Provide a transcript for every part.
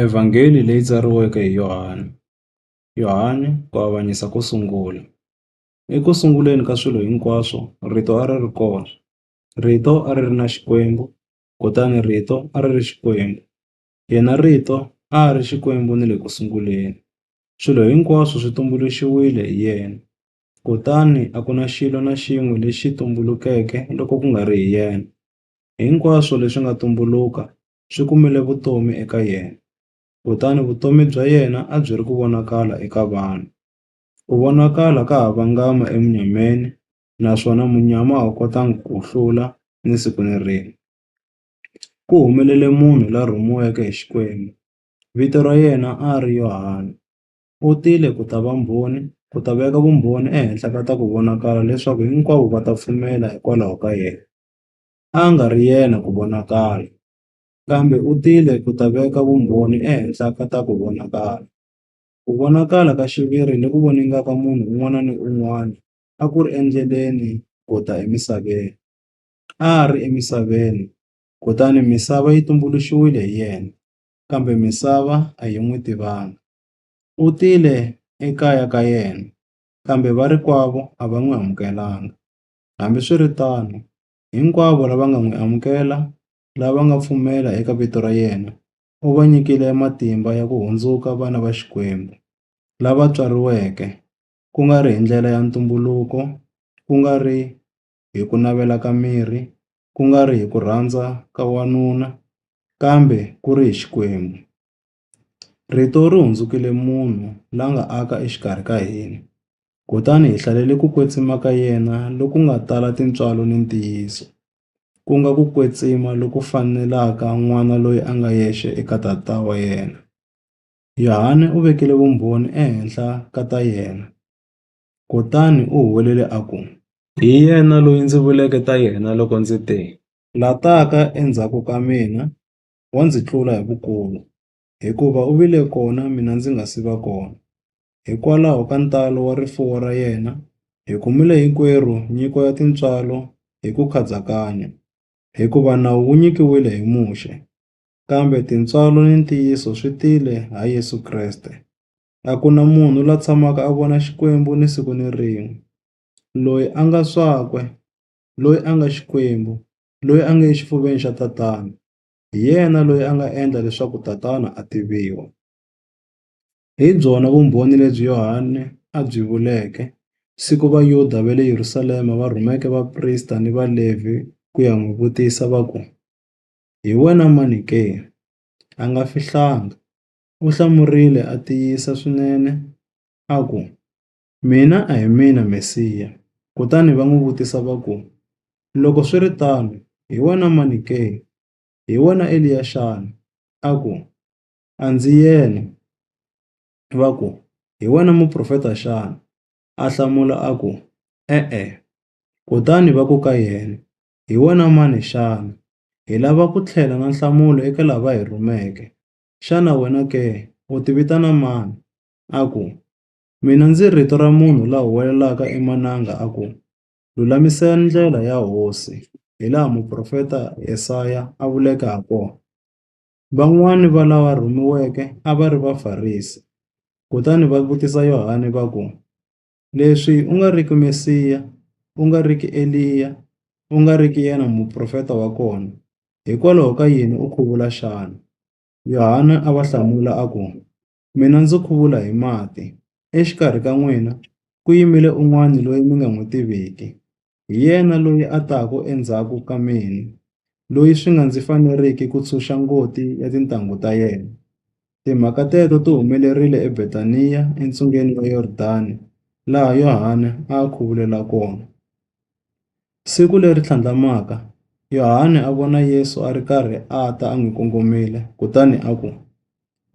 Evhangeli leyi tsariweke hi Yohani. Yohani, ku avanyisa ko sungula. Eku sunguleni ka swilo hinkwaswo, Rito a ri ri kona, Rito a ri ri na Xikwembu, kutani Rito a ri ri Xikwembu. Yena Rito a a ri Xikwembu ni le ku sunguleni. Swilo hinkwaswo swi tumbuluxiwile hi yena, kutani a ku na xilo na xin'we lexi tumbulukeke loko ku nga ri hi yena. Hinkwaswo leswi nga tumbuluka swi kumile vutomi eka yena, kutani vutomi bya yena a byi ri ku vonakala eka vanhu. U vonakala ka ha vangama emunyameni naswona munyama a wu kotanga ku wu hlula ni siku ni rin'we. Ku humelele munhu la rhumiweke hi Xikwembu, vito ra yena a ri Yohana. U tile ku ta va mbhoni, ku ta veka vumbhoni ehenhla ka ta ku vonakala leswaku hinkwavo va ta pfumela hikwalaho ka yena. a a nga ri yena ku vonakala, kambe u tile ku ta veka vumbhoni ehenhla ka ta ku vonakala. Ku vonakala ka xiviri loku voningaka munhu un'wana ni un'wana a ku ri endleleni ku ta emisaveni. A a ri emisaveni, kutani misava yi tumbuluxiwile hi yena, kambe misava a yi n'wi tivanga. U tile ekaya ka yena, kambe varikwavo a va n'wi amukelanga. Hambiswiritano, hinkwavo lava nga n'wi amukela, lava nga pfumela eka vito ra yena, u va nyikile matimba ya ku hundzuka vana va Xikwembu, lava tswariweke, ku nga ri hi ndlela ya ntumbuluko, ku nga ri hi ku navela ka miri, ku nga ri hi ku rhandza ka wanuna, kambe ku ri hi Xikwembu. Rito ri hundzukile munhu la nga aka exikarhi ka hina, kutani hi hlalele ku kwetsima ka yena loku nga tala tintswalo ni ntiyiso, ku nga ku kwetsima loku fanelaka n'wana loyi a nga yexe eka tata wa yena. Yohane u vekile vumbhoni ehenhla ka ta yena, kutani u huwelele a ku, Hi yena loyi ndzi vuleke ta yena loko ndzi te, La taka endzhaku ka mina, wa ndzi tlula hi vukulu, hikuva u vile kona mina ndzi nga si va kona. Hikwalaho ka ntalo wa rifuwo ra yena, hi kumile hinkwerhu nyiko ya tintswalo hi ku khadzakanya. Hikuva nawu wu nyikiwile hi Muxe, kambe tintswalo ni ntiyiso swi tile ha Yesu Kreste. A ku na munhu la tshamaka a vona Xikwembu ni siku ni rin'we. Loyi a nga swakwe, loyi a nga Xikwembu, loyi a nge exifuveni xa tatana hi yena loyi a nga endla leswaku tatana a tiviwa. Hi byona vumbhoni lebyi Yohane a byi vuleke siku Vayuda va le Yerusalema va rhumeke vaprista ni Valevhi ku ya n'wi vutisa va ku, Hi wena mani ke? A nga fihlanga, u hlamurile a tiyisa swinene a ku, Mina a hi mina Mesiya. Kutani va n'wi vutisa va ku, Loko swi ri tano, hi wena mani ke? Hi wena Eliya xana? A ku, A ndzi yena. Va ku, Hi wena muprofeta xana? A hlamula a ku, E-e. Kutani va ku ka yena, Hi wena mani xana? Hi lava ku tlhela na nhlamulo eka lava hi rhumeke. Xana wena ke u tivitana mani? A ku, Mina ndzi rito ra munhu la huwelelaka emananga a ku, Lulamisani ndlela ya Hosi, hilaha muprofeta Yesaya a vuleke hakona. Van'wana va lava rhumiweke a va ri Vafarisi, kutani va vutisa Yohane va ku, Leswi u nga riki Mesiya, u nga riki Eliya, u nga riki yena muprofeta wa kona, hikwalaho ka yini u khuvula xana? Yohane a va hlamula a ku, Mina ndzi khuvula hi mati. Exikarhi ka n'wina ku yimile un'wana loyi mi nga n'wi tiviki. Hi yena loyi a taka endzhaku ka mina, loyi swi nga ndzi faneriki ku ntshunxa ngoti ya tintanghu ta yena.” Timhaka teto ti humelerile eBetaniya entsungeni wa Yordani, laha Yohane a a khuvulela kona. Siku leri tlhandlamaka, Yohane a vona Yesu a ri karhi a ta a n'wi kongomile, kutani a ku,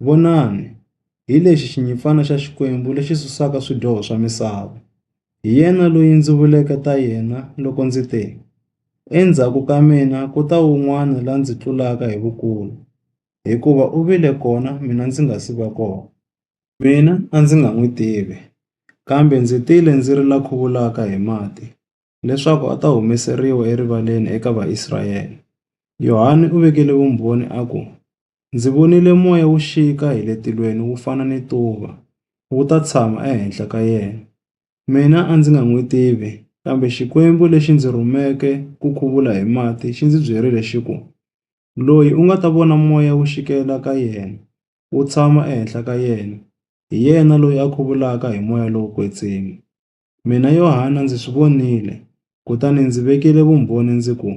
Vonani! Hi lexi xinyimpfana xa Xikwembu lexi susaka swidyoho swa misava. Hi yena loyi ndzi vuleke ta yena loko ndzi te, ‘Endzhaku ka mina ku ta un'wana la ndzi tlulaka hi vukulu, hikuva u vile kona mina ndzi nga si va kona.’ Mina a ndzi nga n'wi tivi, kambe ndzi tile ndzi ri la khuvulaka hi mati. leswaku a ta humeseriwa erivaleni eka Vaisrayele. Yohane u vekele vumbhoni a ku, Ndzi vonile moya wu xika hi le tilweni wu fana ni tuva, wu ta tshama ehenhla ka yena. Mina a ndzi nga n'wi tivi, kambe Xikwembu lexi ndzi rhumeke ku khuvula hi mati xi ndzi byerile xi ku, Loyi u nga ta vona moya wu xikela ka yena, wu tshama ehenhla ka yena, hi yena loyi a khuvulaka hi moya lowo kwetsima. Mina Yohana ndzi swi vonile, kutani ndzi vekile vumbhoni ndzi ku,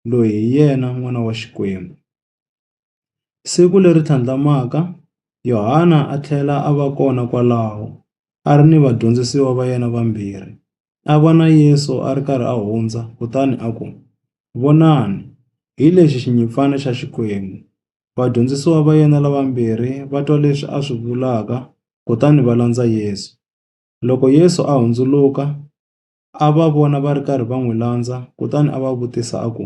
Loyi hi yena N'wana wa Xikwembu. Siku leri tlhandlamaka, Yohana a tlhela a va kona kwalaho, a ri ni vadyondzisiwa va yena vambirhi. A vona Yesu a ri karhi a hundza, kutani a ku, Vonani, hi lexi xinyimpfana xa Xikwembu! Vadyondzisiwa va yena lavambirhi va twa leswi a swi vulaka, kutani va landza Yesu. Loko Yesu a hundzuluka, a va vona va ri karhi va n'wi landza kutani a va vutisa a ku,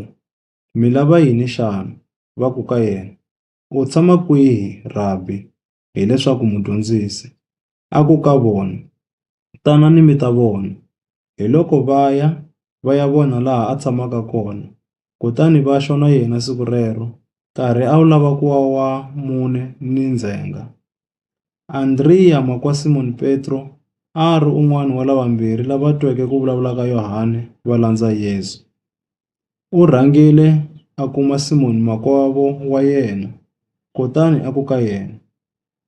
Mi lava yini xana? Va ku ka yena, U tshama kwihi, Rabi? hi leswaku Mudyondzisi. A ku ka vona, Tanani mi ta vona. Hiloko va ya, va ya vona laha a tshamaka kona, kutani va xwa na yena siku rero, nkarhi a wu lava ku wa wa mune ni ndzhenga. Andriya ma kwa Simon Petro a a ri un'wana wa lavambirhi lava tweke ku vulavula ka Yohane va landza Yesu. U rhangile a kuma Simon makwavo wa yena, kutani a ku ka yena,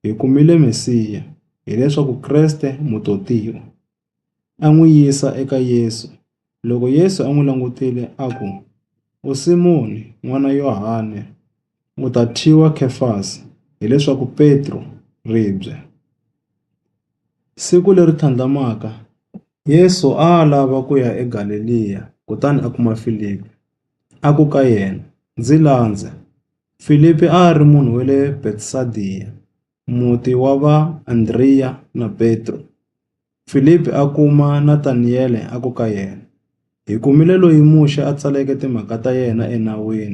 Hi kumile Mesiya, hileswaku Kreste, Mutotiwa. a n'wi yisa eka Yesu. Loko Yesu a n'wi langutile a ku, U Simoni n'wana Yohane, u ta thyiwa Khefasi, hi leswaku Petro, ribye. Siku leri tlhandlamaka, Yesu a a lava ku ya eGaleliya kutani a kuma Filipi, a ku ka yena, Ndzi landza. Filipi a a ri munhu wa le Betsayida. muti wa va Andriya na Petro. Filipi a kuma Nataniyele a ku ka yena, Hi kumile loyi Muxe a tsaleke timhaka ta yena eNawini.